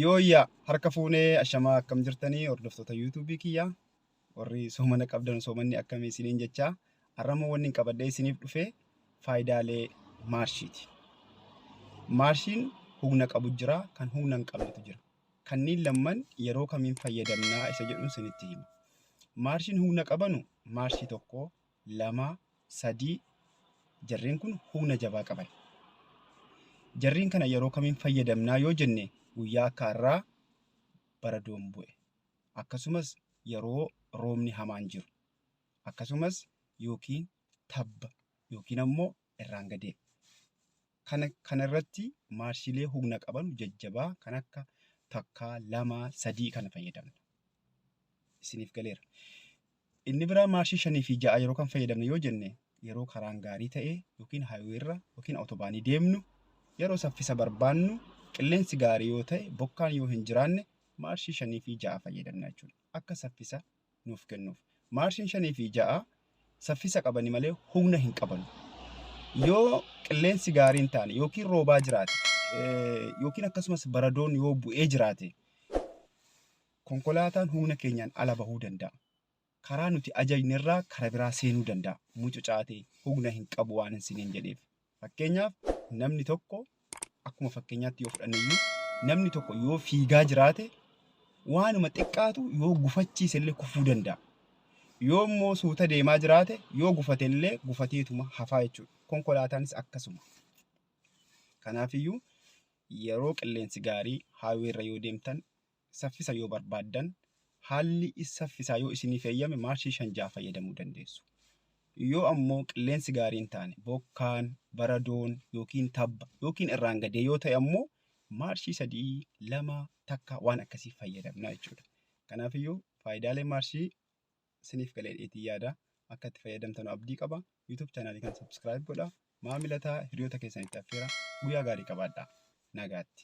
Yooyyaa harka fuunee ashamaa akkam jirtanii hordoftoota yuutuubii kiyyaa warri soomana qabdan soomanni akkamii isiniin jechaa har'ammoo wanni hin qabadhee isiniif dhufee faayidaalee maarshiiti. Maarshiin humna qabu jira kan humna hin qabnetu jira. Kanniin lamman yeroo kamiin fayyadamnaa isa jedhuun isinitti hima. Maarshiin humna qabanu maarshii tokko lama, sadii, jarreen kun humna jabaa qaban. Jarreen kana yeroo kamiin fayyadamnaa yoo jenne guyyaa akka har'aa bara doon bu'e akkasumas yeroo roobni hamaan jiru akkasumas yookiin tabba yookiin ammoo irraan gadee. Kana kana irratti maarshiilee humna qaban jajjabaa kan akka takkaa, lama, sadii kana fayyadamna. Isiniif galeera. Inni biraa maarshii shanii fi ja'a yeroo kan fayyadamne yoo jenne yeroo karaan gaarii ta'e yookiin haayiweerra yookiin awutobaanii deemnu yeroo saffisa barbaannu qilleensi gaarii yoo ta'e bokkaan yoo hin jiraanne maarshii shanii fi ja'a fayyadamna jechuudha. Akka saffisa nuuf kennuuf. Maarshiin 5 fi 6 saffisa qabani malee humna hin qabanu. Yoo qilleensi gaariin taane yookiin roobaa jiraate yookiin akkasumas baradoon yoo bu'ee jiraate konkolaataan humna keenyaan ala bahuu danda'a. Karaa nuti ajajne irraa kara biraa seenuu danda'a. Mucucaatee humna hin qabu waan hin siniin jedheef. Fakkeenyaaf namni tokko akkuma fakkeenyaatti yoo fudhanne iyyuu namni tokko yoo fiigaa jiraate waanuma xiqqaatu yoo gufachiise illee kufuu danda'a. Yoo immoo suuta deemaa jiraate yoo gufate illee gufateetuma hafaa jechuudha. Konkolaataanis akkasuma. Kanaafiyyuu yeroo qilleensi gaarii haayiweerra yoo deemtan Saffisa yoo barbaaddan haalli saffisaa yoo isiniif eeyyame maarshii 5 6 fayyadamuu dandeessu. Yoo ammoo qilleensi gaarii hin taane bokkaan, baradoon yookiin tabba yookiin irraan gadee yoo ta'e ammoo maarshii 3 2 takka waan akkasii fayyadamna jechuudha. Kanaafiyyuu faayidaalee maarshii isiniif galee dheetii yaada akka itti fayyadamtanu abdii qaba. YouTube chaanaalii kan subscribe godha. Maamila ta'a hiriyoota keessanitti affeera. Guyyaa gaarii qabaadhaa. Nagaatti.